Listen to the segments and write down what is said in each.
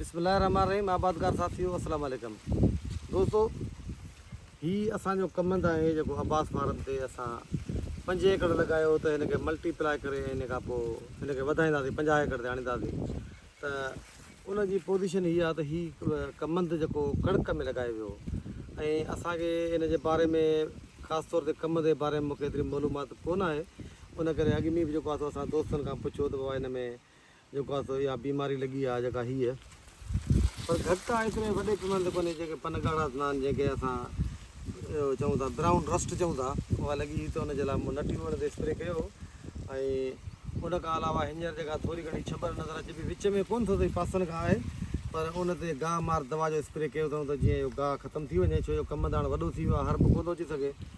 بسم الله الرحمٰن الرحيم آبادگار ساٿيو السلام عليڪم دوستو هي اسان جو ڪمند آهي جيڪو عباس فارم تي اسان پنج ايڪڙ لڳايو ته هن کي ملٽي پلائي ڪري ۽ ان کان پوء هن کي وڌائينداسي پنجاهه ايڪڙ تي آڻينداسي ته ان جي پوزيشن هي آهي ته هي ڪمند جيڪو ڪڻڪ ۾ لڳايو ويو ۽ اسان کي ان جي باري ۾ خاص طور تي ڪمند جي باري ۾ مونکي ايتري معلومات ڪونه آهي ان ڪري اڳ ۾ به جيڪو آهي سو اسان دوستن کان پڇيو ته بابا ان ۾ جيڪو آهي سو اها بيماري لڳي آهي جيڪا هيء پر گهٽ آهي ايتري وڏي پيماني تي ڪونهي جيڪي پن ڳاڙها ٿيندا آهن جنهن کي اسان اهو چئون ٿا برائون رسٽ چئون ٿا اها لڳي هئي ته ان جي لاء مون نٽي ووڻ تي اسپري ڪيو هو ۽ ان کان علاوه هينئر جيڪا ٿوري گهڻي ڇٻر نظر اچي پئي وچ ۾ ڪونه ٿو اٿئي پاسن کان آهي پر ان تي گاهه مار دوا جو اسپري ڪيو اٿئون ته جيئن اهو گاهه ختم ٿي وڃي ڇو جو ڪمنداڻ وڏو ٿي ويو آهي هرب ڪونه ٿو اچي سگهي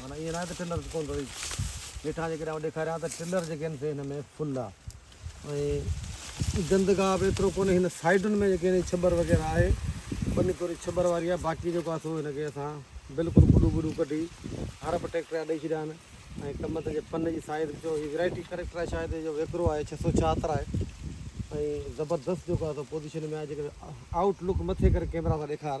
معنيٰ ائين ناهي ته ٽريلرز ڪونه ٿو ڏئي. هيٺان جيڪڏهن آئون ڏيکاريان ته ٽريلر جيڪي آهن سي هن ۾ فل آ ۽ گندگاهه به ايترو ڪونهي. هن سائيڊن ۾ جيڪي هن ڇٻر وغيره آهي ٻني ٿوري ڇٻر واري آهي باقي جيڪو آهي سو هن کي اسان بلڪل ڪڏون ٻڏون ڪڍي هر ٻه ٽريڪٽر جا ڏئي ڇڏيا آهن ۽ ڪم هتي جي فن جي سائيز به چئو هي ويرائٽي ڪريڪٽر آهي شايد اهو ويڪرو آهي ڇهه سؤ چوهتر آهي ۽ زبردست جيڪو آهي سو پوزيشن ۾ آهي جيڪڏهن آئوٽ لڪ مٿي ڪري ڪيمرا سان ڏيکار